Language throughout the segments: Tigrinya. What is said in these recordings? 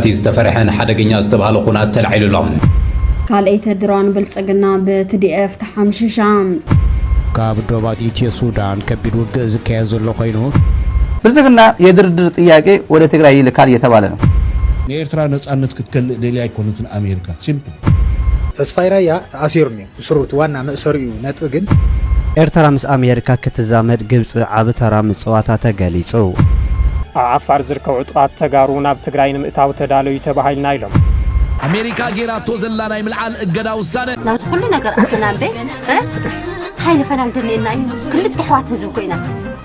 እቲ ዝተፈርሐን ሓደገኛ ዝተብሃለ ኩናት ተላዒሉ ኣሎ። ካልኣይቲ ድሮን ብልጽግና ብ TDF ተሓምሺሻ። ካብ ዶባት ኢትዮ ሱዳን ከቢድ ውግእ ዝካየድ ዘሎ ኮይኑ። ብልጽግና የድርድር ጥያቄ ወደ ትግራይ ይልካል እየተባለ ነው። ንኤርትራ ነጻነት ክትከልእ ደልያ ኣይኮነትን ኣሜርካ። Simple። ተስፋይ ራያ ተኣሲሩ እኒኦ። እስሩ እቲ ዋና መእሰሪኡ እዩ ነጥቢ ግን። ኤርትራ ምስ ኣሜሪካ ክትዛመድ ግብፂ ዓቢ ተራ ምፅዋታ ተገሊፁ። ኣብ ዓፋር ዝርከቡ ዕጡቓት ተጋሩ ናብ ትግራይ ንምእታው ተዳለዩ ተባሂልና ኢሎም። ኣሜሪካ ገይራቶ ዘላ ናይ ምልዓል እገዳ ውሳነ። ናብዚ ኩሉ ነገር ኣተና እምበይ ታይ ንፈላሊ ደሊየና እዩ ክልተ ኣሕዋት ህዝቢ ኮይና።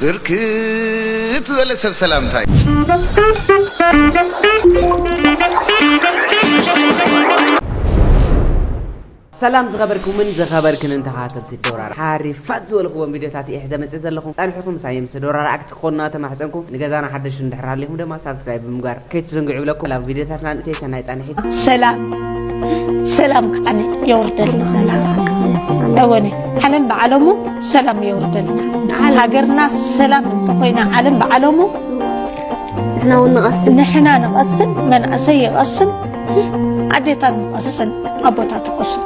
ብርክት ዝበለ ሰብ ሰላምታይ። ሰላም ዝኸበርኩምን ዝኸበርክንን ተኸታተልቲ ዶራር ሓሪፋት ዝበልክዎም ቪድዮታት እየ ሕዘ መፅእ ዘለኹ ፀንሕኹም ምሳይ ምስ ዶራር ኣክት ክኾኑና ተማሕፀንኩ ንገዛና ሓደሽ እንድሕር ሃሊኹም ድማ ሳብስክራይብ ብምግባር ከይትዘንግዑ ይብለኩም ኣብ ቪድዮታትና ንእተይ ሰናይ ጻንሒት ሰላም ሰላም ከዓኒ የውርደሉ እወነ ዓለም ብዓለሙ ሰላም የውርደሉ ሃገርና ሰላም እንተኾይና ዓለም ብዓለሙ ንሕና እውን ንቐስን ንሕና ንቐስን መንእሰይ ይቐስን ኣዴታት ንቐስን ኣቦታት ይቐስን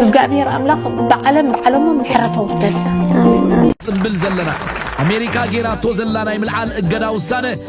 እግዚኣብሔር ኣምላኽ ብዓለም ብዓለሙ ምሕረት ኣውርደልና ጽብል ዘለና ኣሜሪካ ጌራቶ ዘላ ናይ ምልዓል እገዳ ውሳነ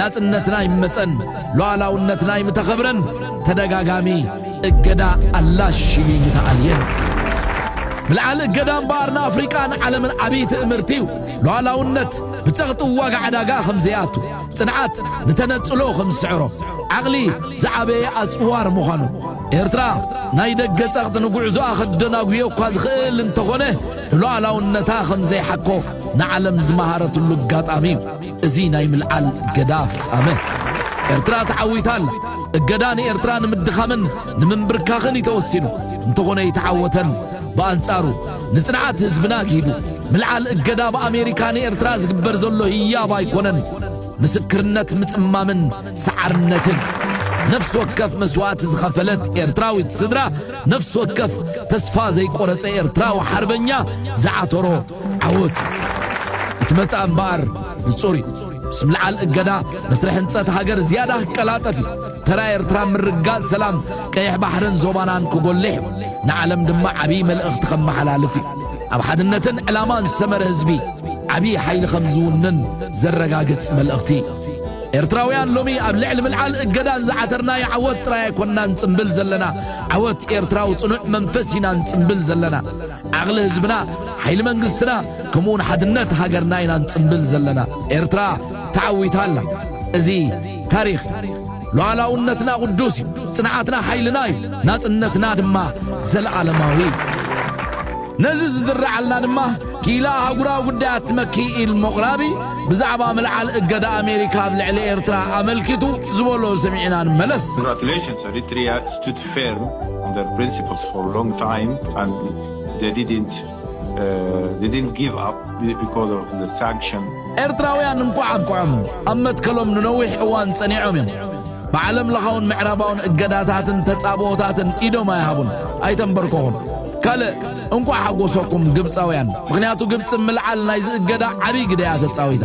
ናጽነትና ይመጸን ሉዓላውነትና ይምተኸብረን ተደጋጋሚ እገዳ ኣላሽቢ ምተኣልየን ምልዓል እገዳ እምበኣር ንኣፍሪቃን ዓለምን ዓብዪ ትእምርቲ እዩ ሉዓላውነት ብጸቕጢ ዋጋ ዕዳጋ ከም ዘይኣቱ ጽንዓት ንተነጽሎ ከም ዝስዕሮ ዓቕሊ ዝዓበየ ኣጽዋር ምዃኑ ኤርትራ ናይ ደገ ጸቕጢ ንጉዕዞኣ ከደናጉዮ እኳ ዝኽእል እንተኾነ ንሉዓላውነታ ከም ዘይሓኮ ንዓለም ዝመሃረትሉ ኣጋጣሚ እዩ እዚ ናይ ምልዓል እገዳ ፍጻመ፣ ኤርትራ ተዓዊታ ኣላ። እገዳ ንኤርትራ ንምድኻምን ንምንብርካኽን እዩ ተወሲኑ። እንተኾነ ኣይተዓወተን። ብኣንጻሩ፣ ንጽንዓት ህዝብና ኣግሂዱ። ምልዓል እገዳ ብኣሜሪካ ንኤርትራ ዝግበር ዘሎ ህያብ ኣይኮነን። ምስክርነት ምጽማምን ሰዓርነትን ነፍሲ ወከፍ መስዋእቲ ዝኸፈለት ኤርትራዊት ስድራ፣ ነፍሲ ወከፍ ተስፋ ዘይቆረጸ ኤርትራዊ ሓርበኛ ዝዓተሮ ዓወት እቲ መጻኢ እምበኣር ንጹር እዩ። ምስ ምልዓል እገዳ መስርሕ ህንጸት ሃገር ዝያዳ ክቀላጠፍ እዩ። ተራ ኤርትራ ምርግጋጽ ሰላም ቀይሕ ባሕርን ዞባናን ክጎልሕ እዩ። ንዓለም ድማ ዓብዪ መልእኽቲ ከመሓላልፍ እዩ። ኣብ ሓድነትን ዕላማን ዝሰመረ ህዝቢ ዓብዪ ሓይሊ ከም ዝውንን ዘረጋግጽ መልእኽቲ እዩ። ኤርትራውያን ሎሚ ኣብ ልዕሊ ምልዓል እገዳን ዝዓተርናዮ ዓወት ጥራይ ኣይኮናን ንጽምብል ዘለና። ዓወት ኤርትራዊ ጽኑዕ መንፈስ ኢና ንጽምብል ዘለና። ዓቕሊ ህዝብና ሓይሊ መንግስትና ከምኡውን ሓድነት ሃገርና ኢና ንጽምብል ዘለና ኤርትራ ተዓዊታ ኣላ እዚ ታሪኽ እዩ ሉዓላውነትና ቅዱስ እዩ ጽንዓትና ሓይልና እዩ ናጽነትና ድማ ዘለዓለማዊ እዩ ነዚ ዝድረዓልና ድማ ኪላ ኣህጉራዊ ጉዳያት ትመኪ ኢል መቑራቢ ብዛዕባ ምልዓል እገዳ ኣሜሪካ ኣብ ልዕሊ ኤርትራ ኣመልኪቱ ዝበሎ ሰሚዕና ንመለስ Congratulations, Eritrea stood firm on their principles for a long time and they didn't uh, they didn't give up because of the sanction. ኤርትራውያን እንኳዕ ኣብቅዖም ኣብ መትከሎም ንነዊሕ እዋን ጸኒዖም እዮም ብዓለም ለኻውን ምዕራባውን እገዳታትን ተጻብኦታትን ኢዶም ኣይሃቡን ኣይተንበርኮኹን ካልእ እንኳዕ ሓጎሰኩም ግብፃውያን ምክንያቱ ግብፂ ምልዓል ናይ ዝእገዳ ዓብይ ግደያ ተፃዊታ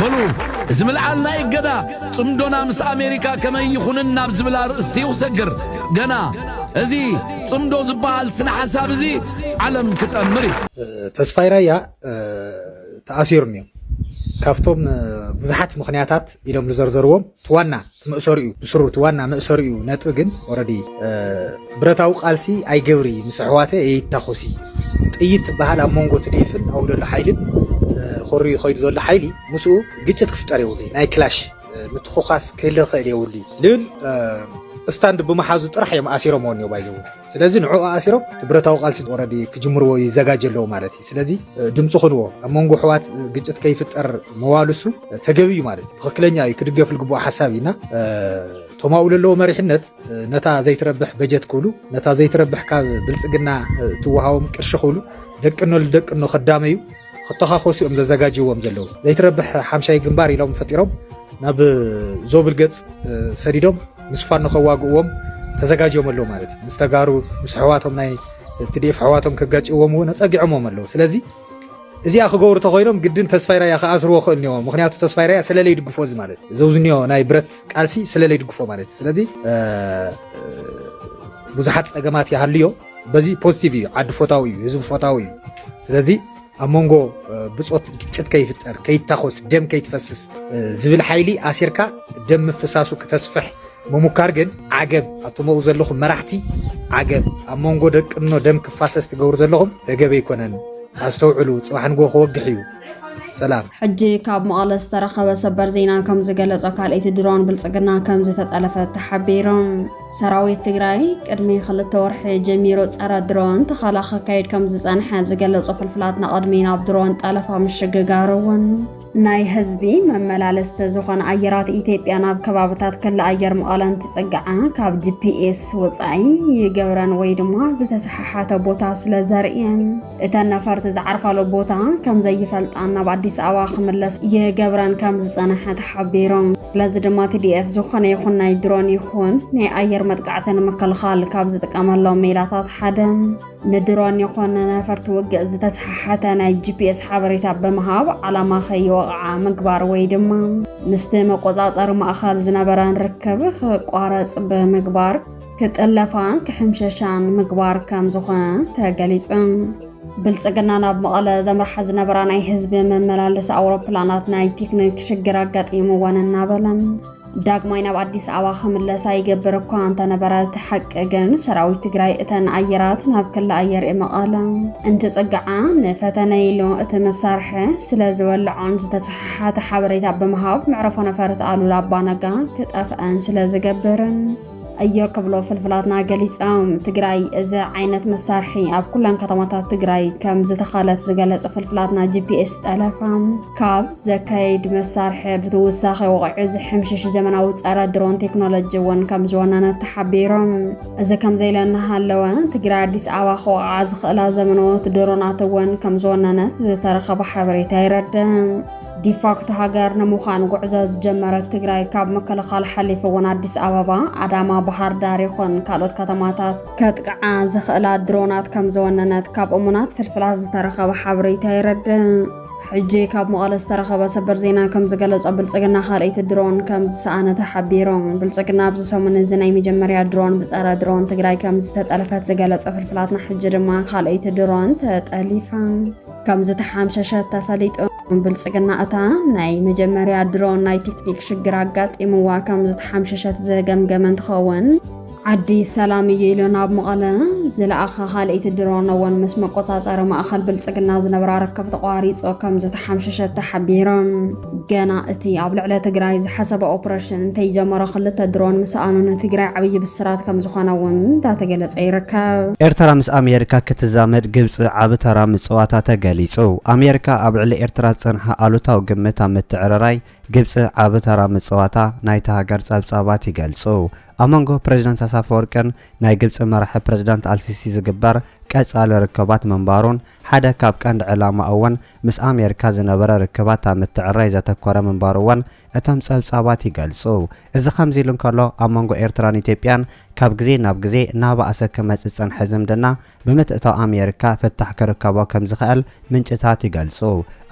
በሉ እዚ ምልዓል ናይ እገዳ ጽምዶና ምስ ኣሜሪካ ከመይ ይኹንን ናብ ዝብል ኣርእስቲ እዩ ክሰግር ገና እዚ ጽምዶ ዝበሃል ስነ ሓሳብ እዚ ዓለም ክጠምር እዩ ተስፋይ ራያ ተኣሲሩ እኒኦ ካብቶም ብዙሓት ምክንያታት ኢሎም ዝዘርዘርዎም ዋና መእሰሪኡ ብስሩ እቲ ዋና መእሰሪኡ ነጥቢ ግን ኦረዲ ብረታዊ ቃልሲ ኣይገብሪ ምስ ኣሕዋተ የይታኾሲ ጥይት ትበሃል ኣብ መንጎ ትድኤፍን ኣብኡ ዘሎ ሓይልን ኮርዩ ከይዱ ዘሎ ሓይሊ ምስኡ ግጭት ክፍጠር የብሉ ናይ ክላሽ ምትኾኻስ ክህልኽእል የብሉ ልብል ስታንድ ብምሓዙ ጥራሕ እዮም ኣሲሮምዎ እኒኦ ባይዘው ስለዚ ንዕኡ ኣሲሮም እቲ ብረታዊ ቃልሲ ወረዲ ክጅምርዎ ይዘጋጀ ኣለዉ ማለት እዩ። ስለዚ ድምፂ ኹንዎ ኣብ መንጎ ኣሕዋት ግጭት ከይፍጠር መዋልሱ ተገቢ እዩ ማለት እዩ። ትኽክለኛ እዩ ክድገፍ ዝግብኦ ሓሳብ እዩና እቶም ኣብኡ ዘለዎ መሪሕነት ነታ ዘይትረብሕ በጀት ክብሉ ነታ ዘይትረብሕ ካብ ብልፅግና ትወሃቦም ቅርሺ ክብሉ ደቅኖ ልደቅኖ ከዳመዩ ክተኻኾሱ እዮም ዘዘጋጅዎም ዘለዉ። ዘይትረብሕ ሓምሻይ ግንባር ኢሎም ፈጢሮም ናብ ዞብል ገጽ ሰዲዶም ምስ ፋኖ ከዋግእዎም ተዘጋጅዮም ኣለዉ ማለት እዩ። ምስ ተጋሩ ምስ ኣሕዋቶም ናይ ትዲኤፍ ኣሕዋቶም ከጋጭዎም እውን ኣጸጊዖምዎም ኣለዉ። ስለዚ እዚኣ ክገብሩ ተኮይኖም ግድን ተስፋይ ራያ ክኣስርዎ ክእል እኒኦ ምክንያቱ ተስፋይ ራያ ስለለይ ድግፎ እዚ ማለት እዩ ዘውዝኒዮ ናይ ብረት ቃልሲ ስለለይ ድግፎ ማለት እዩ ስለዚ ብዙሓት ጸገማት ይሃልዮ በዚ ፖዚቲቭ እዩ ዓዲ ፎታዊ እዩ ህዝቢ ፎታዊ እዩ ስለዚ ኣብ መንጎ ብፆት ግጭት ከይፍጠር ከይታኮስ ደም ከይትፈስስ ዝብል ሓይሊ ኣሲርካ ደም ምፍሳሱ ክተስፍሕ ምሙካር ግን ዓገብ ኣቶም ኣብኡ ዘለኹም መራሕቲ ዓገብ ኣብ መንጎ ደቅኖ ደም ክፋሰስ ትገብሩ ዘለኹም ተገቢ ኣይኮነን ኣስተውዕሉ ፅባሕ ንጎ ክወግሕ እዩ ሰላም። ሕጂ ካብ መቐለ ዝተረኸበ ሰበር ዜና ከም ዝገለጾ ካልኣይቲ ድሮን ብልጽግና ከም ዝተጠለፈት ተሓቢሩ። ሰራዊት ትግራይ ቅድሚ ክልተ ወርሒ ጀሚሩ ጸረ ድሮን ተኸላ ከካይድ ከም ዝጸንሐ ዝገለጹ ፍልፍላት ንቕድሚ ናብ ድሮን ጠለፋ ምሽግጋሩ እውን ናይ ህዝቢ መመላለስቲ ዝኾነ ኣየራት ኢትዮጵያ ናብ ከባብታት ክሊ ኣየር መቐለ እንትጽግዓ ካብ ጂፒኤስ ወፃኢ ይገብረን ወይ ድማ ዝተሰሓሓተ ቦታ ስለ ዘርእየን እተን ነፈርቲ ዝዓርፋሉ ቦታ ከም ዘይፈልጣን ናብ ኣዲስ ኣበባ ክምለስ ይገብረን ከም ዝጸንሐ ተሓቢሮም ስለዚ ድማ ቲዲኤፍ ዝኾነ ይኹን ናይ ድሮን ይኹን ናይ ኣየር መጥቃዕቲ ንምክልኻል ካብ ዝጥቀመሎም ሜላታት ሓደ ንድሮን ይኹን ነፈርቲ ውግእ ዝተሰሓሓተ ናይ ጂፒኤስ ሓበሬታ ብምሃብ ዓላማ ከይወቕዓ ምግባር ወይ ድማ ምስቲ መቆጻጸሪ ማእኸል ዝነበረን ርክብ ክቋረጽ ብምግባር ክጥለፋን ክሕምሸሻን ምግባር ከም ዝኾነ ተገሊጹ። ብልጽግና ናብ መቐለ ዘምርሓ ዝነበራ ናይ ህዝቢ መመላለሲ ኣውሮፕላናት ናይ ቴክኒክ ሽግር ኣጋጢምወን እናበለ ዳግማይ ናብ ኣዲስ ኣበባ ክምለሳ ይገብር እኳ እንተነበረ እቲ ሓቂ ግን ሰራዊት ትግራይ እተን ኣየራት ናብ ክሊ ኣየር መቐለ እንትፅግዓ ንፈተነ ኢሉ እቲ መሳርሒ ስለ ዝወልዖን ዝተተሓሓተ ሓበሬታ ብምሃብ መዕረፎ ነፈርቲ ኣሉላ ኣባነጋ ክጠፍአን ስለ ዝገብርን እዮ ክብሎ ፍልፍላትና ገሊፆም። ትግራይ እዚ ዓይነት መሳርሒ ኣብ ኩለን ከተማታት ትግራይ ከም ዝተኸለት ዝገለፁ ፍልፍላትና ጂፒኤስ ጠለፋ ካብ ዘካየድ መሳርሒ ብትውሳኺ ወቕዒ ዝሕምሽሽ ዘመናዊ ፀረ ድሮን ቴክኖሎጂ እውን ከም ዝወነነ ተሓቢሮም። እዚ ከምዘይለ እናሃለወ ትግራይ ኣዲስ ኣበባ ክወቕዓ ዝኽእላ ዘመናዎት ድሮናት እውን ከም ዝወነነት ዝተረኸበ ሓበሬታ ይረድእ። ዲፋክቶ ሃገር ንምዃን ጉዕዞ ዝጀመረት ትግራይ ካብ ምክልኻል ሓሊፉ እውን ኣዲስ ኣበባ፣ ኣዳማ፣ ባህር ዳር ይኹን ካልኦት ከተማታት ከጥቅዓ ዝኽእላ ድሮናት ከም ዝወነነት ካብ እሙናት ፍልፍላት ዝተረኸበ ሓበሬታ የረድእ። ሕጂ ካብ መቐለ ዝተረኸበ ሰበር ዜና ከም ዝገለጾ ብልጽግና ካልኣይቲ ድሮን ከም ዝሰኣነ ተሓቢሩ። ብልጽግና ኣብዚ ሰሙን እዚ ናይ መጀመርያ ድሮን ብጸረ ድሮን ትግራይ ከም ዝተጠልፈት ዝገለጸ ፍልፍላትና ሕጂ ድማ ካልኣይቲ ድሮን ተጠሊፋ ከም ዝተሓምሸሸ ተፈሊጡ። ብልጽግና እታ ናይ መጀመርያ ድሮ ናይ ቴክኒክ ሽግር ኣጋጢምዋ ከም ዝተሓምሸሸት ዝገምገመ እንትኸውን ዓዲ ሰላም እዩ ኢሉ ናብ መቐለ ዝለኣኸ ካልእቲ ድሮን እውን ምስ መቆፃፀሪ ማእኸል ብልጽግና ዝነበራ ርክብ ተቋሪፆ ከም ዝተሓምሸሸት ተሓቢሮም። ገና እቲ ኣብ ልዕሊ ትግራይ ዝሓሰበ ኦፕሬሽን እንተይጀመረ ክልተ ድሮን ምስኣኑ ንትግራይ ዓብዪ ብስራት ከምዝኾነ እውን እንዳተገለፀ ይርከብ። ኤርትራ ምስ ኣሜሪካ ክትዛመድ ግብፂ ዓቢ ተራ ምፅዋታ ተገሊፁ። ኣሜሪካ ኣብ ልዕሊ ኤርትራ ዝፀንሓ ኣሉታዊ ግምት ኣብ ምትዕርራይ ግብፂ ዓቢ ተራ ምፅዋታ ናይታ ሃገር ፀብፃባት ይገልፁ። ኣብ መንጎ ፕረዚዳንት ኢሳያስ ኣፈወርቅን ናይ ግብፂ መራሒ ፕረዚዳንት ኣልሲሲ ዝግበር ቀፃሊ ርክባት ምንባሩን ሓደ ካብ ቀንዲ ዕላማኡ እውን ምስ ኣሜሪካ ዝነበረ ርክባት ኣብ ምትዕርራይ ዘተኮረ ምንባሩ'ውን እቶም ጸብጻባት ይገልጹ። እዚ ከምዚ ኢሉ እንከሎ፣ ኣብ መንጎ ኤርትራን ኢትዮጵያን ካብ ግዜ ናብ ግዜ እናበኣሰ ክመጽእ ዝጸንሐ ዝምድና፣ ብምትእትታው ኣሜሪካ ፍታሕ ክርከቦ ከም ዝኽእል ምንጭታት ይገልጹ።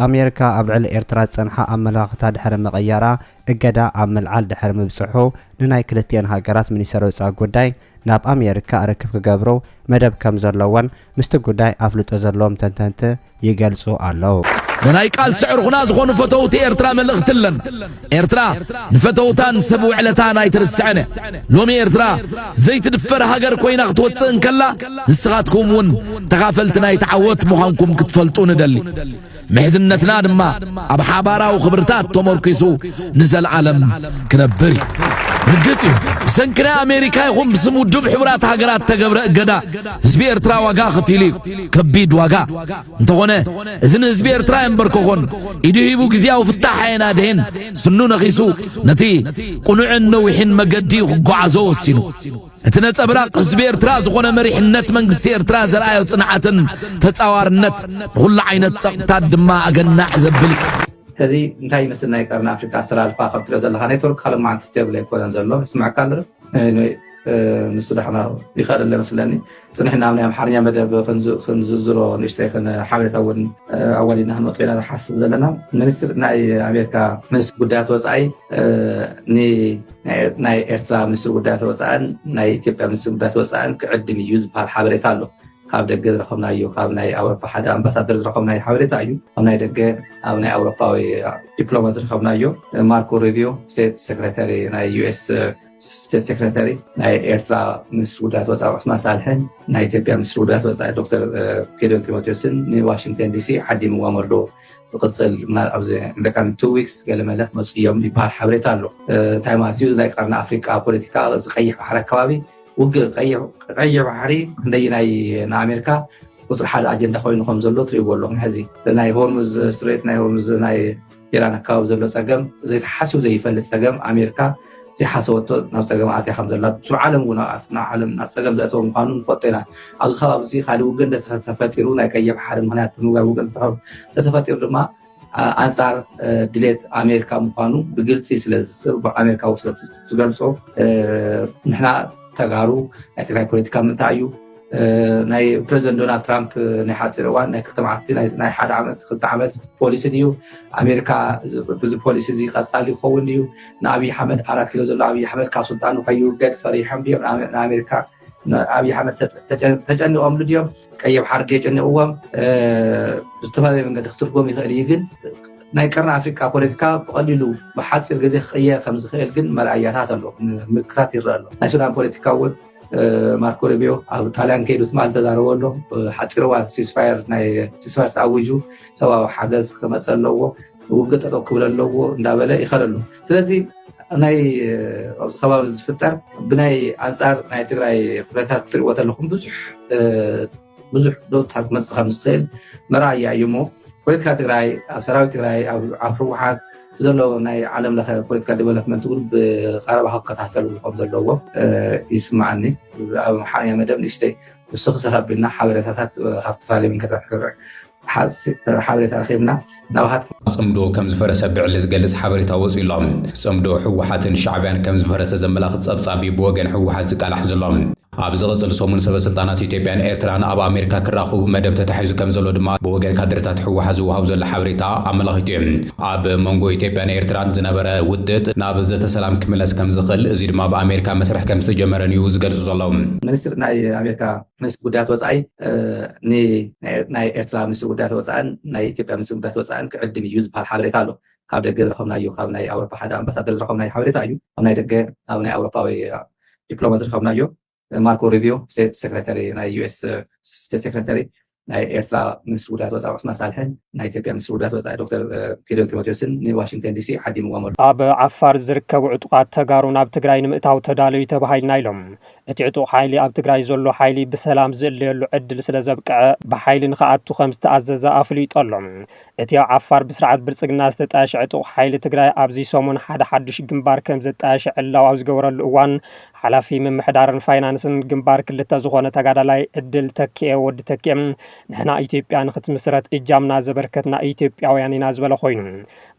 ኣሜሪካ ኣብ ልዕሊ ኤርትራ ዝጸንሓ ኣመለኻኽታ ድሕሪ ምቕያራ፣ እገዳ ኣብ ምልዓል ድሕሪ ምብጽሑ፣ ንናይ ክልቲኤን ሃገራት ሚኒስተር ወጻኢ ጉዳይ፣ ናብ ኣሜሪካ ርክብ ክገብሩ መደብ ከም ዘለዎን ምስቲ ጉዳይ ኣፍልጦ ዘለዎም ተንተንቲ ይገልጹ ኣለው። ንናይ ቃልሲ ዕርኹና ዝኾኑ ፈተውቲ ኤርትራ መልእኽቲ ኣለን። ኤርትራ ንፈተውታን ሰብ ውዕለታን ኣይትርስዕን እያ። ሎሚ ኤርትራ ዘይትድፈር ሃገር ኮይና ክትወጽእ እንከላ ንስኻትኩም እውን ተኻፈልቲ ናይቲ ዓወት ምዃንኩም ክትፈልጡ ንደሊ። ምሕዝነትና ድማ ኣብ ሓባራዊ ክብርታት ተመርኲሱ ንዘለኣለም ክነብር እዩ። ርግጽ እዩ ብሰንኪ ናይ ኣሜሪካ ይኹን ብስም ውድብ ሕቡራት ሃገራት ተገብረ እገዳ ህዝቢ ኤርትራ ዋጋ ኸፊሉ እዩ ከቢድ ዋጋ እንተኾነ እዚ ንህዝቢ ኤርትራ የንበርከኾን ኢዱ ሂቡ ግዜያዊ ፍታሕ ኣየናድሄን ስኑ ነኺሱ ነቲ ቁኑዕን ነዊሕን መገዲ ክጓዓዞ ወሲኑ እቲ ነጸብራቕ ህዝቢ ኤርትራ ዝኾነ መሪሕነት መንግስቲ ኤርትራ ዘርኣዮ ጽንዓትን ተጻዋርነት ንኹሉ ዓይነት ጸቕጥታት ድማ ኣገናዕ ዘብል እዩ። ሕዚ እንታይ ይመስል ናይ ቀርኒ ኣፍሪቃ ኣሰላልፋ ካብ ትሪኦ ዘለካ ኔትወርክካ ሎማዓንቲ ስቴብል ኣይኮነን ዘሎ ይስምዐካ ኣሎ ዶ? Anyway ንሱ ዳሕና ይካድ ኣሎ ይመስለኒ። ጽንሕና ኣብ ናይ ኣምሓርኛ መደብ ክንዝዝሮ ንእሽተይ ሓበሬታ እውን ኣዋዲድና ክንወጽእ ኢና ዝሓስብ ዘለና ሚኒስትር ናይ ኣሜሪካ ሚኒስትር ጉዳያት ወፃኢ ናይ ኤርትራ ሚኒስትር ጉዳያት ወፃእን ናይ ኢትዮጵያ ሚኒስትር ጉዳያት ወፃእን ክዕድም እዩ ዝበሃል ሓበሬታ ኣሎ ካብ ደገ ዝረኸብናዮ ካብ ናይ ኣውሮፓ ሓደ ኣምባሳደር ዝረኸብናዮ ሓበሬታ እዩ ኣብ ናይ ደገ ኣብ ናይ ኣውሮፓዊ ዲፕሎማት ዝረኸብናዮ ማርኮ ሪቪዮ ስቴት ሴክሬታሪ ናይ ዩኤስ ስቴት ሴክሬታሪ ናይ ኤርትራ ሚኒስትሪ ጉዳያት ወፃኢ ዑስማን ሳልሕን ናይ ኢትዮጵያ ሚኒስትሪ ጉዳያት ወፃኢ ዶክተር ጌዶን ጢሞቴዎስን ንዋሽንግተን ዲሲ ዓዲምዎም ኣሎ ዝቅፅል ኣብዚ ደቂ ቱ ዊክስ ገለ መለ ክመፁ እዮም ይበሃል ሓበሬታ ኣሎ እንታይ ማለት እዩ ናይ ቀርኒ ኣፍሪቃ ፖለቲካ እዚ ቀይሕ ባሕሪ ኣከባቢ ውግእ ቀይሕ ባሕሪ ክንደይ ናይ ንኣሜሪካ ቁፅሪ ሓደ ኣጀንዳ ኮይኑ ከም ዘሎ ትሪእዎ ኣለኹም ሕዚ ናይ ሆርሙዝ ስትሬት ናይ ሆርሙዝ ናይ ኢራን ኣከባቢ ዘሎ ፀገም ዘይተሓስዩ ዘይፈልጥ ፀገም ኣሜርካ ዘይሓሰበቶ ናብ ፀገም ኣትያ ከም ዘላ ስብ ዓለም እውን ዓለም ናብ ፀገም ዘእተወ ምኳኑ ንፈልጦ ኢና ኣብዚ ከባቢ እዚ ካልእ ውግእ እንተተፈጢሩ ናይ ቀይሕ ባሕሪ ምክንያት ብምግባር ውግእ እንተተፈጢሩ ድማ ኣንፃር ድሌት ኣሜሪካ ምኳኑ ብግልፂ ስለኣሜሪካ ስለ ዝገልፆ ንሕና ተጋሩ ናይ ትግራይ ፖለቲካ ምንታይ እዩ ናይ ፕረዚደንት ዶናልድ ትራምፕ ናይ ሓፂር እዋን ናይ ክልተ መዓልቲ ናይ ሓደ ዓመት ክልተ ዓመት ፖሊሲ ድዩ ኣሜሪካ ብዚ ፖሊሲ እዚ ቀፃሊ ይኸውን ድዩ ንኣብዪ ሓመድ ኣራት ኪሎ ዘሎ ኣብዪ ኣሕመድ ካብ ስልጣኑ ከይውገድ ፈሪሖም ድዮም ንኣሜሪካ ኣብዪ ኣሕመድ ተጨኒቆምሉ ድዮም ቀይሕ ሓርጌ ጨኒቕዎም ብዝተፈላለየ መንገዲ ክትርጎም ይኽእል እዩ ግን ናይ ቀርኒ ኣፍሪካ ፖለቲካ ብቀሊሉ ብሓፂር ግዜ ክቅየር ከምዝኽእል ግን መርኣያታት ኣሎ ምልክታት ይረአ ኣሎ ናይ ሱዳን ፖለቲካ እውን ማርኮ ሩቢዮ ኣብ ጣልያን ከይዱ ትማል ተዛረቦ ኣሎ ሓፂር እዋን ሲስፋየር ናይ ሲስፋየር ተኣዊጁ ሰብኣዊ ሓገዝ ክመፀ ኣለዎ ውግእ ጠጠው ክብል ኣለዎ እንዳበለ ይኸል ኣሎ ስለዚ ናይ ኣብዚ ከባቢ ዝፍጠር ብናይ ኣንፃር ናይ ትግራይ ኩነታት ክትሪእዎ ተለኩም ብዙሕ ብዙሕ ለውጢ ክትመፅእ ከምትኽእል መርኣያ እዩ እሞ ፖለቲካ ትግራይ ኣብ ሰራዊት ትግራይ ኣብ ህወሓት ዘሎ ናይ ዓለም ለኸ ፖለቲካ ዴቨሎፕመንት እውን ብቀረባ ክከታተሉ ከም ዘለዎ ይስማዓኒ ኣብ ሓያ መደብ ንእሽተይ ንስኺ ሰኸ ኣቢልና ሓበሬታታት ካብ ዝተፈላለዩ መንገታት ክርዕ ሓበሬታ ረኺብና ናብሃት ጽምዶ ከም ዝፈረሰ ብዕሊ ዝገልጽ ሓበሬታ ወጺኡ ኣሎ። ጽምዶ ህወሓትን ሻዕብያን ከም ዝፈረሰ ዘመላኽት ጸብጻብ እዩ ብወገን ህወሓት ዝቃላሕ ዘሎ። ኣብ ዝቕጽል ሰሙን ሰበስልጣናት ኢትዮጵያን ኤርትራን ኣብ ኣሜሪካ ክራኹቡ መደብ ተታሒዙ ከም ዘሎ ድማ ብወገን ካድረታት ህወሓት ዝወሃብ ዘሎ ሓበሬታ ኣመላኺቱ እዩ። ኣብ መንጎ ኢትዮጵያን ኤርትራን ዝነበረ ውጥጥ ናብ ዘተ ሰላም ክምለስ ከም ዝኽእል፣ እዚ ድማ ብኣሜሪካ መስርሕ ከም ዝተጀመረን እዩ ዝገልጹ ዘለዉ። ሚኒስትር ናይ ኣሜሪካ ሚኒስትሪ ጉዳያት ወፃኢ ንናይ ኤርትራ ሚኒስትሪ ጉዳያት ወፃእን ናይ ኢትዮጵያ ሚኒስትሪ ጉዳያት ወፃእን ክዕድም እዩ ዝበሃል ሓበሬታ ኣሎ ካብ ደገ ዝረኸብናዩ ካብ ናይ ኣውሮፓ ሓደ ኣምባሳደር ዝረኸብናዩ ሓበሬታ እዩ ኣብ ናይ ደገ ኣብ ናይ ኣውሮፓዊ ዲፕሎማ ዝረኸብናዮ ማርኮ ሪቪዮ ስቴት ሴክሬታሪ ናይ ዩኤስ ስቴት ሴክሬታሪ ናይ ኤርትራ ሚኒስትሪ ጉዳያት ወፃኢ ዑስማን ሳልሕን ናይ ኢትዮጵያ ሚኒስትሪ ጉዳያት ወፃኢ ዶክተር ጌዲዮን ጢሞቴዎስን ንዋሽንግተን ዲሲ ዓዲምዎም ኣሎ ኣብ ዓፋር ዝርከቡ ዕጡቓት ተጋሩ ናብ ትግራይ ንምእታው ተዳለዩ ተባሂልና ኢሎም እቲ ዕጡቕ ሓይሊ ኣብ ትግራይ ዘሎ ሓይሊ ብሰላም ዝእለየሉ ዕድል ስለዘብቅዐ ብሓይሊ ንክኣቱ ከምዝተኣዘዘ ኣፍሊጡ ኣሎ። እቲ ኣብ ዓፋር ብስርዓት ብልፅግና ዝተጣየሸ ዕጡቕ ሓይሊ ትግራይ ኣብዚ ሰሙን ሓደ ሓዱሽ ግንባር ከምዘጣየሸ ዕላው ኣብ ዝገበረሉ እዋን ሓላፊ ምምሕዳርን ፋይናንስን ግንባር ክልተ ዝኾነ ተጋዳላይ ዕድል ተኪኤ፣ ወዲ ተኪኤ፣ ንሕና ኢትዮጵያ ንክትምስረት እጃምና ዘበርከትና ኢትዮጵያውያን ኢና ዝበለ ኮይኑ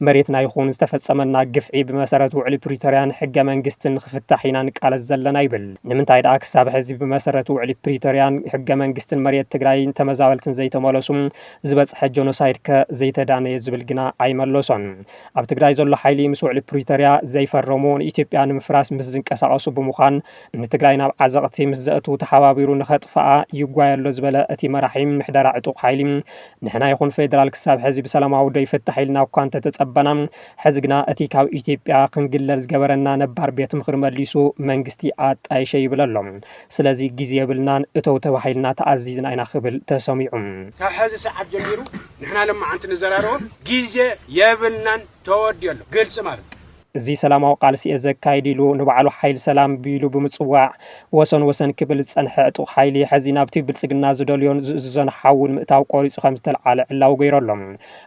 መሬትና ይኹን ዝተፈፀመና ግፍዒ ብመሰረት ውዕሊ ፕሪቶርያን ሕገ መንግስትን ንክፍታሕ ኢና ንቃለስ ዘለና ይብል። ንምንታይ ድኣ ክሳብ ሕዚ ብመሰረት ውዕሊ ፕሪቶርያን ሕገ መንግስትን መሬት ትግራይን ተመዛበልትን ዘይተመለሱ? ዝበፅሐ ጆኖሳይድ ከ ዘይተዳነየ ዝብል ግና ኣይመለሶን። ኣብ ትግራይ ዘሎ ሓይሊ ምስ ውዕሊ ፕሪቶርያ ዘይፈረሙ ንኢትዮጵያ ንምፍራስ ምስ ዝንቀሳቐሱ ብምዃን ንትግራይ ናብ ዓዘቕቲ ምስ ዘእትው ተሓባቢሩ ንኸጥፍኣ ይጓየ ኣሎ ዝበለ እቲ መራሒ ምሕደራ ዕጡቕ ሓይሊ ንሕና ይኹን ፌዴራል ክሳብ ሕዚ ብሰላማዊ ዶ ይፍታሕ ኢልና እኳ እንተተፀበና ሕዚ ግና እቲ ካብ ኢትዮጵያ ክንግለል ዝገበረና ነባር ቤት ምኽሪ መሊሱ መንግስቲ ኣጣይሸ ይብል ኣሎ። ስለዚ ግዜ የብልናን እተው ተባሂልና ተኣዚዝና ኢና ክብል ተሰሚዑ። ካብ ሕዚ ሰዓት ጀሚሩ ንሕና ሎማዓንቲ ንዘራረቦ ግዜ የብልናን ተወዲኡ ኣሎ ግልፂ ማለት እዩ። እዚ ሰላማዊ ቃልሲ'የ ዘካይድ ኢሉ ንባዕሉ ሓይሊ ሰላም ቢሉ ብምጽዋዕ ወሰን ወሰን ክብል ዝጸንሐ ዕጡቕ ሓይሊ ሕዚ ናብቲ ብልጽግና ዝደልዮን ዝእዝዞን ሓዊ ንምእታው ቆሪጹ ከምዝተልዓለ ዕላዊ ገይሩ ኣሎ።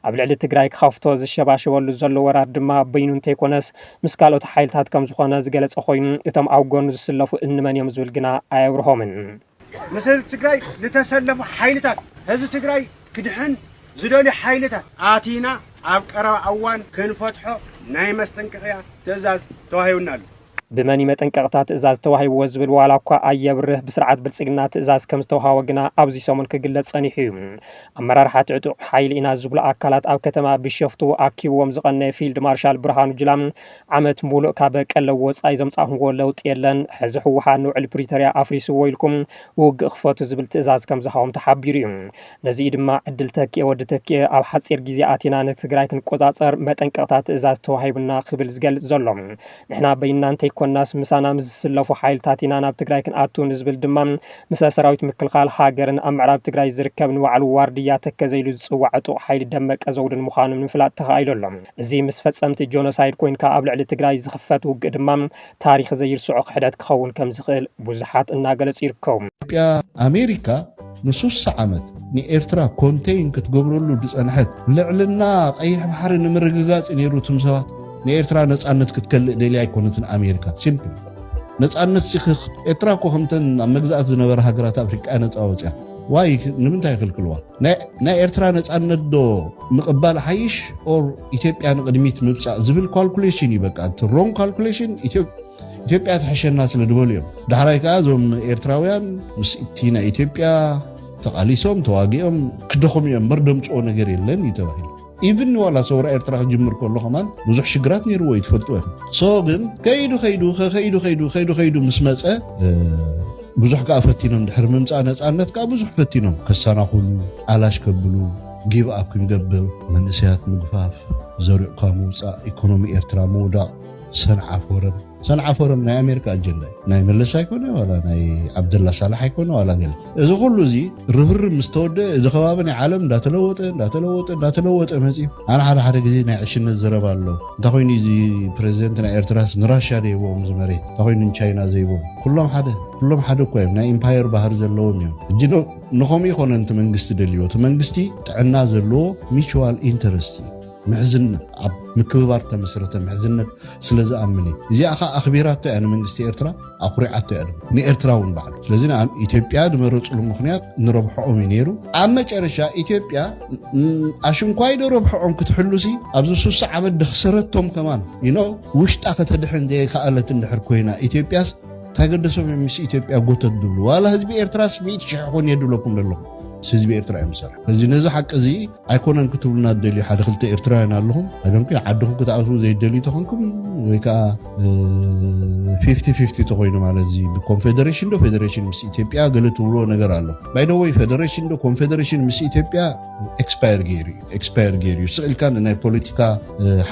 ኣብ ልዕሊ ትግራይ ክኸፍቶ ዝሸባሸበሉ ዘሎ ወራር ድማ በይኑ እንተይኮነስ ምስ ካልኦት ሓይልታት ከምዝኾነ ዝገለጸ ኮይኑ እቶም ኣብ ጎኑ ዝስለፉ እንመን'ዮም ዝብል ግና ኣየብርሆምን። ምስ ህዝቢ ትግራይ ዝተሰለፉ ሓይልታት፣ ህዝቢ ትግራይ ክድሕን ዝደልዩ ሓይልታት ኣቲና ኣብ ቀረባ እዋን ክንፈትሖ ናይ መስጠንቀቕያ ትእዛዝ ተዋሂቡና ኣሎ። ብመን እዩ መጠንቀቕታ ትእዛዝ ተዋሂብዎ ዝብል ዋላ እኳ ኣየብርህ፣ ብስርዓት ብልፅግና ትእዛዝ ከም ዝተውሃቦ ግና ኣብዚ ሰሙን ክግለፅ ፀኒሑ እዩ። ኣመራርሓቲ ዕጡቕ ሓይሊ ኢና ዝብሉ ኣካላት ኣብ ከተማ ቢሸፍቱ ኣኪብዎም ዝቐነየ ፊልድ ማርሻል ብርሃኑ ጁላ፣ ዓመት ሙሉእ ካብ ቀለብ ወፃኢ ዘምፃእኹምዎ ለውጢ የለን፣ ሕዚ ህወሓት ንውዕሊ ፕሪቶርያ ኣፍሪስዎ ኢልኩም ውግእ ክፈቱ ዝብል ትእዛዝ ከምዝሃቦም ተሓቢሩ ዩ። ነዚ ዩ ድማ ዕድል ተኪኤ ወዲ ተኪኤ ኣብ ሓፂር ግዜ ኣቲና ንትግራይ ክንቆፃፀር መጠንቀቕታ ትእዛዝ ተዋሂቡና ክብል ዝገልፅ ዘሎ። ንሕና በይንና እንተይኮናስ ምሳና ምስ ዝስለፉ ሓይልታት ኢና ናብ ትግራይ ክንኣቱ ንዝብል ድማ ምሰ ሰራዊት ምክልኻል ሃገርን ኣብ ምዕራብ ትግራይ ዝርከብ ንባዕሉ ዋርድያ ተከዘ ኢሉ ዝፅዋዕ ዕጡቕ ሓይሊ ደመቀ ዘውድን ምዃኑ ንምፍላጥ ተኻኢሉ ኣሎ። እዚ ምስ ፈፀምቲ ጆኖሳይድ ኮይንካ ኣብ ልዕሊ ትግራይ ዝኽፈት ውግእ ድማ ታሪኽ ዘይርስዖ ክሕደት ክኸውን ከምዝኽእል ብዙሓት እናገለፁ ይርከቡ። ኢትዮጵያ ኣሜሪካ ንሱሳ ዓመት ንኤርትራ ኮንተይን ክትገብረሉ ድጸንሐት ልዕልና ቀይሕ ባሕሪ ንምርግጋጽ ነይሩ ትም ሰባት ንኤርትራ ነጻነት ክትከልእ ደልያ ኣይኮነትን ኣሜሪካ ሲምፕል ነጻነት ሲክክ ኤርትራ እኮ ከምተን ኣብ መግዛእት ዝነበራ ሃገራት ኣፍሪቃ ነጻ ወጽያ ዋይ ንምንታይ ይኽልክልዋ? ናይ ኤርትራ ነጻነት ዶ ምቕባል ይሓይሽ ኦር ኢትዮጵያ ንቕድሚት ምብጻእ ዝብል ኳልኩሌሽን እዩ በቃ እቲ ሮንግ ኳልኩሌሽን ኢትዮጵያ ትሕሸና ስለ ዝበሉ እዮም ዳሕራይ ከዓ እዞም ኤርትራውያን ምስ እቲ ናይ ኢትዮጵያ ተቓሊሶም ተዋጊኦም ክደኹም እዮም እምበር ደምፅኦ ነገር የለን እዩ ተባሂሉ ኢቭን ንዋላ ሰውራ ኤርትራ ክጅምር ከሎ ከማን ብዙሕ ሽግራት ነይርዎ እዩ ትፈልጥዎ ኢኹም ሶ ግን ከይዱ ከይዱ ከይዱ ከይዱ ከይዱ ከይዱ ምስ መፀ ብዙሕ ከዓ ፈቲኖም ድሕሪ ምምፃእ ነፃነት ከዓ ብዙሕ ፈቲኖም ከሰናኹሉ ኣላሽ ከብሉ ጊብ ኣብ ክንገብር መንእሰያት ምግፋፍ ዘሪዕካ ምውፃእ ኢኮኖሚ ኤርትራ ምውዳቕ ሰንዓፍ ወረብ ሰንዓ ፎረም ናይ ኣሜሪካ ኣጀንዳ እዩ ናይ መለስ ኣይኮነ ዋላ ናይ ዓብደላ ሳላሕ ኣይኮነ ዋላ ገለ እዚ ኩሉ እዚ ርብርብ ምስ ተወደአ እዚ ከባቢ ናይ ዓለም እንዳተለወጠ እንዳተለወጠ እንዳተለወጠ መፅዩ ኣነ ሓደ ሓደ ግዜ ናይ ዕሽነት ዘረባ ኣሎ እንታይ ኮይኑ እዚ ፕሬዚደንት ናይ ኤርትራስ ንራሻ ደይቦም እዚ መሬት እንታይ ኮይኑ ንቻይና ዘይቦም ኩሎም ሓደ ኩሎም ሓደ እኳ እዮም ናይ ኢምፓየር ባህር ዘለዎም እዮም እጂ ንኸምኡ ይኮነ እቲ መንግስቲ ደልዎ እቲ መንግስቲ ጥዕና ዘለዎ ሚቹዋል ኢንተረስት እዩ ምሕዝነት ኣብ ምክብባር ተመስረተ ምሕዝነት ስለ ዝኣምን እዩ እዚኣ ከዓ ኣኽቢራቶ እያ ንመንግስቲ ኤርትራ ኣኩሪዓቶ እያ ድማ ንኤርትራ እውን ባዕሉ ስለዚ ኣብ ኢትዮጵያ ዝመረፅሉ ምክንያት ንረብሐኦም እዩ ነይሩ ኣብ መጨረሻ ኢትዮጵያ ኣሽንኳይ ዶ ረብሐኦም ክትሕሉሲ ኣብዚ ሱሳ ዓመት ደክሰረቶም ከማን ይኖ ውሽጣ ከተድሕን ዘይከኣለት እንድሕር ኮይና ኢትዮጵያስ ታገደሶም እዮም ምስ ኢትዮጵያ ጎተት ዝብሉ ዋላ ህዝቢ ኤርትራስ ሚእቲ ሽሕ ኮን የድለኩም ዘለኹም ህዝቢ ኤርትራ እዮም ዝሰርሑ እዚ ነዚ ሓቂ እዚ ኣይኮነን ክትብሉና ትደልዩ ሓደ ክልተ ኤርትራውያን ኣለኹም ኣይደንኩ ዓድኹም ክትኣትዉ ዘይደልዩ ተኾንኩም ወይ ከዓ ፊፍቲ ፊፍቲ ተኮይኑ ማለት እዚ ብኮንፌደሬሽን ዶ ፌደሬሽን ምስ ኢትዮጵያ ገለ ትብልዎ ነገር ኣሎ ባይደወይ ፌደሬሽን ዶ ኮንፌደሬሽን ምስ ኢትዮጵያ ኤክስፓየር ገይሩ እዩ ኤክስፓየር ገይሩ እዩ ስዕልካ ንናይ ፖለቲካ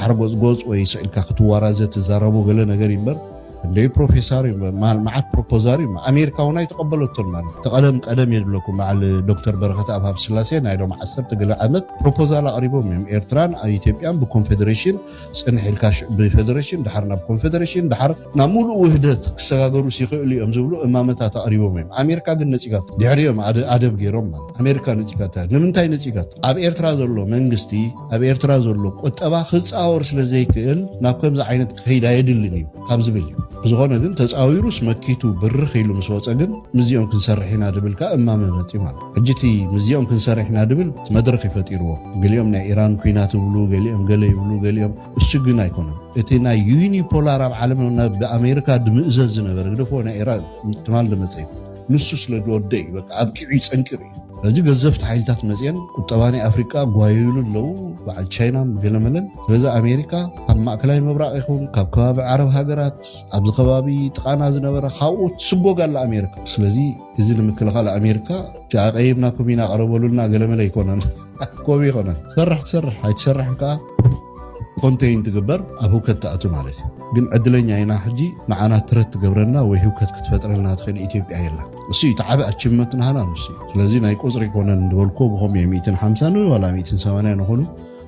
ሓርጎፅጎፅ ወይ ስዕልካ ክትዋራዘ ትዛረቦ ገለ ነገር ይምበር እንደይ ፕሮፌሳር እዩ መሃል መዓት ፕሮፖዛር እዩ ኣሜሪካ እውን ኣይተቐበለቶን ማለት እቲ ቀደም ቀደም የድለኩም በዓል ዶክተር በረኸት ኣብ ሃብ ስላሴ ናይ ሎም ዓሰርተ ገለ ዓመት ፕሮፖዛል ኣቕሪቦም እዮም ኤርትራን ኢትዮጵያን ብኮንፌዴሬሽን ፅንሕ ኢልካ ብፌዴሬሽን ድሓር ናብ ኮንፌዴሬሽን ድሓር ናብ ሙሉእ ውህደት ክሰጋገሩ ይኽእሉ እዮም ዝብሉ እማመታት ኣቕሪቦም እዮም ኣሜሪካ ግን ነፂጋቶ ድሕሪ እዮም ኣደብ ገይሮም ማለት ኣሜሪካ ነፂጋታ ንምንታይ ነፂጋቶ ኣብ ኤርትራ ዘሎ መንግስቲ ኣብ ኤርትራ ዘሎ ቁጠባ ክጻወር ስለ ዘይክእል ናብ ከምዚ ዓይነት ክኸይድ ኣየድልን እዩ ካብ ዝብል እዩ። ብዝኾነ ግን ተጻዊሩስ መኪቱ ብርኽ ኢሉ ምስ ወጸ ግን ምስዚኦም ክንሰርሕ ኢና ድብል ከኣ እማመ መጺኡ ማለት እዩ። ሕጂ እቲ ምስዚኦም ክንሰርሕ ኢና ድብል እቲ መድረኽ እዩ ፈጢርዎ። ገሊኦም ናይ ኢራን ኩናት ይብሉ ገሊኦም ገለ ይብሉ ገሊኦም እሱ ግን ኣይኮነን እቲ ናይ ዩኒፖላር ኣብ ዓለም ናብ ብኣሜሪካ ድምእዘዝ ዝነበረ ግደፍዎ ናይ ኢራን ትማል ድመጸ እዩ። ንሱ ስለ ድወደእ እዩ በቃ ኣብቂዑ እዩ ጸንቂቑ እዩ። ሕጂ ገዘፍቲ ሓይልታት መፅኤን ቁጠባ ናይ ኣፍሪቃ ጓየዩሉ ኣለዉ በዓል ቻይና ገለመለን ስለዚ ኣሜሪካ ካብ ማእከላይ ምብራቕ ይኹን ካብ ከባቢ ዓረብ ሃገራት ኣብዚ ከባቢ ጥቓና ዝነበረ ካብኡ ትስጎግ ኣላ ኣሜሪካ ስለዚ እዚ ንምክልኻል ኣሜሪካ እቲ ኣቐይምናኩም ኢና ቐረበሉና ገለመለ ኣይኮነን ኮብ ይኮነ ትሰርሕ ትሰርሕ ኣይትሰርሕን ከዓ ኮንተይን ትግበር ኣብ ህውከት ትኣቱ ማለት እዩ ግን ዕድለኛ ኢና ሕጂ ንዓና ትረት ትገብረና ወይ ህውከት ክትፈጥረልና ትኽእል ኢትዮጵያ የላ እሱ እዩ ተዓበ ኣችመት ናሃና ንሱ ስለዚ ናይ ቁፅሪ ኮነን ዝበልኮ ብኸም እየ 150 ን ዋላ 180 ንኾኑ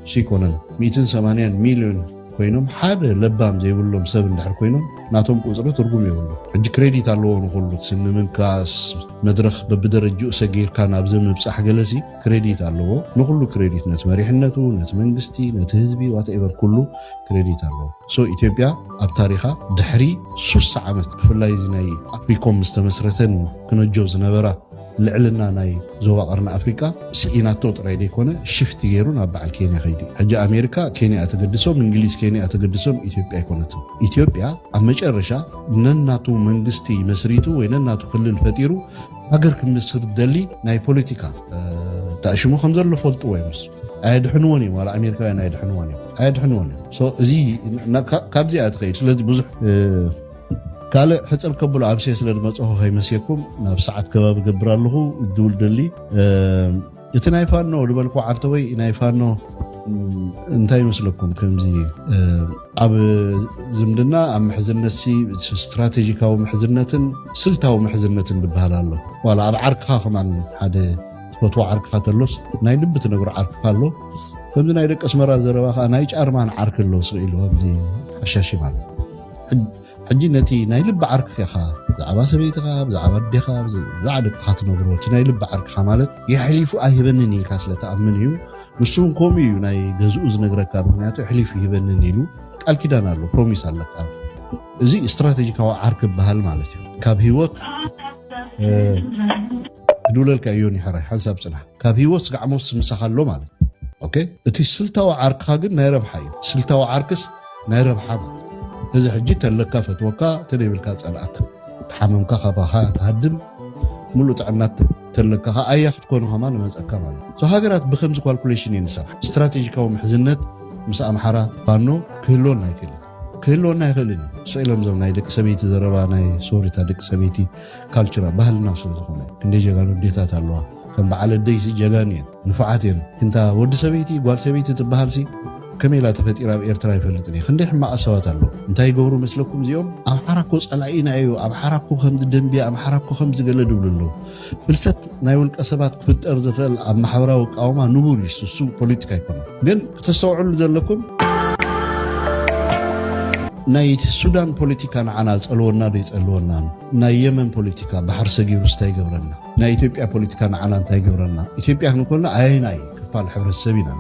እሱ ይኮነን 180 ሚሊዮን ኮይኖም ሓደ ለባም ዘይብሎም ሰብ እንድሕር ኮይኖም ናቶም ቁፅሪ ትርጉም የብሉ ሕጂ ክሬዲት ኣለዎ ንኩሉ ስምምንካስ መድረክ በብደረጅኡ ሰጊርካ ናብዚ ምብፃሕ ገለሲ ክሬዲት ኣለዎ ንኩሉ ክሬዲት ነቲ መሪሕነቱ ነቲ መንግስቲ ነቲ ህዝቢ ዋትኤቨር ኩሉ ክሬዲት ኣለዎ ሶ ኢትዮጵያ ኣብ ታሪኻ ድሕሪ ሱሳ ዓመት ብፍላይ እዚ ናይ ኣፍሪኮም ምስ ተመስረተን ክነጆ ዝነበራ ልዕልና ናይ ዞባ ቀርኒ ኣፍሪቃ ስኢናቶ ጥራይ ዘይኮነ ሽፍቲ ገይሩ ናብ በዓል ኬንያ ከይዱ ሕጂ ኣሜሪካ ኬንያ ተገድሶም እንግሊዝ ኬንያ ተገድሶም ኢትዮጵያ ኣይኮነትን ኢትዮጵያ ኣብ መጨረሻ ነናቱ መንግስቲ መስሪቱ ወይ ነናቱ ክልል ፈጢሩ ሃገር ክምስርት ዝደሊ ናይ ፖለቲካ ተኣሽሙ ከም ዘሎ ፈልጥዎ እዮምስ ኣየድሕንዎን እዮም ዋላ ኣሜሪካውያን ኣየድሕንዎን እዮም ኣየድሕንዎን እዮም እዚ ካብዚ እያ ትኸይድ ስለዚ ብዙሕ ካልእ ሕፅር ከብሎ ኣብሴ ስለ ዝመፅኹ ከይመስየኩም ናብ ሰዓት ከባቢ ገብር ኣለኹ ድውል ደሊ እቲ ናይ ፋኖ ዝበልኩ ዓንተወይ ናይ ፋኖ እንታይ ይመስለኩም ከምዚ ኣብ ዝምድና ኣብ ምሕዝነት ስትራቴጂካዊ ምሕዝነትን ስልታዊ ምሕዝነትን ዝበሃል ኣሎ ዋላ ኣብ ዓርክኻ ከማን ሓደ ትፈትዎ ዓርክኻ ተሎስ ናይ ልቢ ትነግሮ ዓርክኻ ኣሎ ከምዚ ናይ ደቂ ኣስመራ ዘረባ ከዓ ናይ ጫርማን ዓርክ ኣሎ ስኢሉ ከምዚ ሓሻሺ ማለት ሕጂ ነቲ ናይ ልቢ ዓርክፌኻ ብዛዕባ ሰበይትኻ ብዛዕባ ኣዴኻ ብዛዕባ ደቅኻ ትነግሮ እቲ ናይ ልቢ ዓርክኻ ማለት የሕሊፉ ኣይህበንን ኢልካ ስለ ትኣምን እዩ ንሱ እውን ከምኡ እዩ ናይ ገዝኡ ዝነግረካ ምክንያቱ የሕሊፉ ይህበንን ኢሉ ቃል ኪዳን ኣሎ ፕሮሚስ ኣለካ እዚ ስትራቴጂካዊ ዓርክ ይበሃል ማለት እዩ ካብ ህይወት ክድውለልካ እዮ ኒሕራይ ሓንሳብ ፅናሕ ካብ ህይወት ስጋዕ ሞት ስምሳኻ ኣሎ ማለት ኦኬ እቲ ስልታዊ ዓርክኻ ግን ናይ ረብሓ እዩ ስልታዊ ዓርክስ ናይ ረብሓ ማለት እዩ። እዚ ሕጂ ተለካ ፈትወካ ተደይብልካ ጸልኣካ ተሓመምካ ካባኻ ትሃድም ምሉእ ጥዕና ተለካ ከ ኣያ ክትኮኑ ከማ ንመጸካ ማለት እዩ። So ሃገራት ብከምዚ ኳልኩሌሽን እየን ዝሰርሓ። ስትራቴጂካዊ ምሕዝነት ምስ ኣምሓራ ፋኖ ክህልወና ኣይክእልን ክህልወና ኣይክእልን እዩ። ስቅ ኢሎም እዞም ናይ ደቂ ሰበይቲ ዘረባ ናይ ሶሪታ ደቂ ሰበይቲ ካልቸራ ባህልና ስለ ዝኾነ ክንደይ ጀጋኑ ኣዴታት ኣለዋ ከም በዓል ኣደይሲ ጀጋኑ እየን። ንፉዓት እየን ግን እታ ወዲ ሰበይቲ ጓል ሰበይቲ ትበሃልሲ ከመይ ኢላ ተፈጢራ ኣብ ኤርትራ ኣይፈልጥን እየ ክንደይ ሕማቃት ሰባት ኣለዉ እንታይ ይገብሩ መስለኩም እዚኦም ኣምሓራ እኮ ጸላኢና እዩ ኣምሓራ እኮ ከምዚ ደንብያ ኣምሓራ እኮ ከምዚ ገለ ድብሉ ኣለዉ ፍልሰት ናይ ውልቀ ሰባት ክፍጠር ዝኽእል ኣብ ማሕበራዊ ቃውማ ንቡር እዩ እሱ ፖለቲካ ኣይኮነን ግን ክተስተውዕሉ ዘለኩም ናይ ሱዳን ፖለቲካ ንዓና ጸልወና ዶ ይጸልወናን ናይ የመን ፖለቲካ ባሕሪ ሰጊሩ ስታይ ይገብረና ናይ ኢትዮጵያ ፖለቲካ ንዓና እንታይ ይገብረና? ኢትዮጵያ ክንኮና ኣየናይ ክፋል ሕብረተሰብ ኢና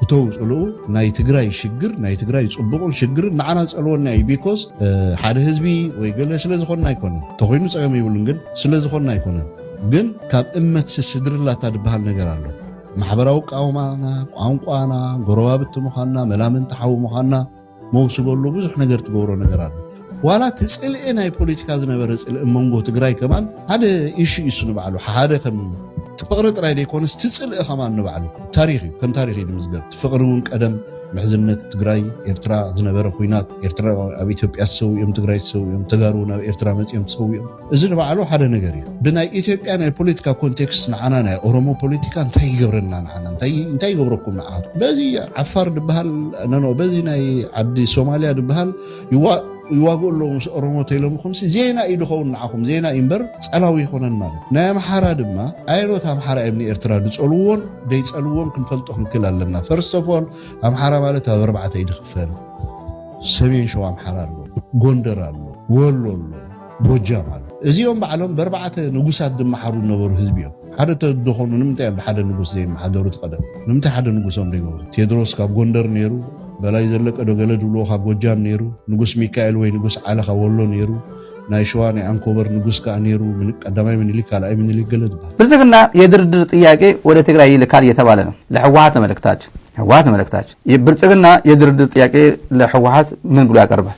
እተው ፅልኡ ናይ ትግራይ ሽግር ናይ ትግራይ ፅቡቕን ሽግርን ንዓና ፀልወና እዩ ቢኮዝ ሓደ ህዝቢ ወይ ገለ ስለ ዝኾንና ኣይኮነን ተኮይኑ ፀገም ይብሉን ግን ስለ ዝኾንና ኣይኮነን ግን ካብ እመት ስስድርላታ ዝበሃል ነገር ኣሎ ማሕበራዊ ቃውማና ቋንቋና ጎረባብቲ ምዃንና መላምንቲ ሓዊ ምዃንና መውስበሉ ብዙሕ ነገር ትገብሮ ነገር ኣሎ ዋላ እቲ ፅልኢ ናይ ፖለቲካ ዝነበረ ፅልኢ መንጎ ትግራይ ከማን ሓደ ኢሹ እዩ እሱ ንባዕሉ ሓደ ከም ፍቅሪ ጥራይ ዘይኮነስ እቲ ፅልኢ ከማን ንባዕሉ ታሪክ እዩ ከም ታሪክ እዩ ዝምዝገብ እቲ ፍቅሪ እውን ቀደም ምሕዝነት ትግራይ ኤርትራ ዝነበረ ኩናት ኤርትራ ኣብ ኢትዮጵያ ዝሰውኦም ትግራይ ዝሰውኦም ተጋሩ ናብ ኤርትራ መፅኦም ዝሰውኦም እዚ ንባዕሉ ሓደ ነገር እዩ። ብናይ ኢትዮጵያ ናይ ፖለቲካ ኮንቴክስት ንዓና ናይ ኦሮሞ ፖለቲካ እንታይ ይገብረና ንዓና እንታይ ይገብረኩም ንዓኻትኩም በዚ ዓፋር ድበሃል ነኖ በዚ ናይ ዓዲ ሶማልያ ድበሃል ይዋ ይዋግኡ ኣለዉ ምስ ኦሮሞ ተኢሎምኹም ዜና እዩ ድኸውን ንዓኹም ዜና እዩ እምበር ጸላዊ ይኮነን ማለት ናይ ኣምሓራ ድማ ኣየኖት ኣምሓራ እዮም ንኤርትራ ድጸልዎን ደይጸልዎን ክንፈልጦ ክንክል ኣለና ፈርስት ኦፍ ኦል ኣምሓራ ማለት ኣብ ኣርባዕተ ይድክፈል ሰሜን ሸዋ ኣምሓራ ኣሎ ጎንደር ኣሎ ወሎ ኣሎ ጎጃም ኣሎ እዚኦም ባዕሎም በርባዕተ ንጉሳት ዝመሓሩ ዝነበሩ ህዝቢ እዮም ሓደ ተደኾኑ ንምንታይ እዮም ብሓደ ንጉስ ዘይመሓደሩ ትቐደም ንምንታይ ሓደ ንጉሶም ዘይገብሩ ቴድሮስ ካብ ጎንደር ነይሩ በላይ ዘለቀ ዶ ገለ ድብልዎ ካብ ጎጃም ነይሩ ንጉስ ሚካኤል ወይ ንጉስ ዓለ ካብ ወሎ ነይሩ ናይ ሸዋ ናይ ኣንኮበር ንጉስ ከዓ ነይሩ ቀዳማይ ምኒልክ ካልኣይ ምኒልክ ገለ ትበሃል ብልጽግና የድርድር ጥያቄ ወደ ትግራይ ይልካል እየተባለ ነው ለህወሀት ነው መልእክታችን ህወሀት ነው መልእክታችን ብልጽግና የድርድር ጥያቄ ለህወሀት ምን ብሎ ያቀርባል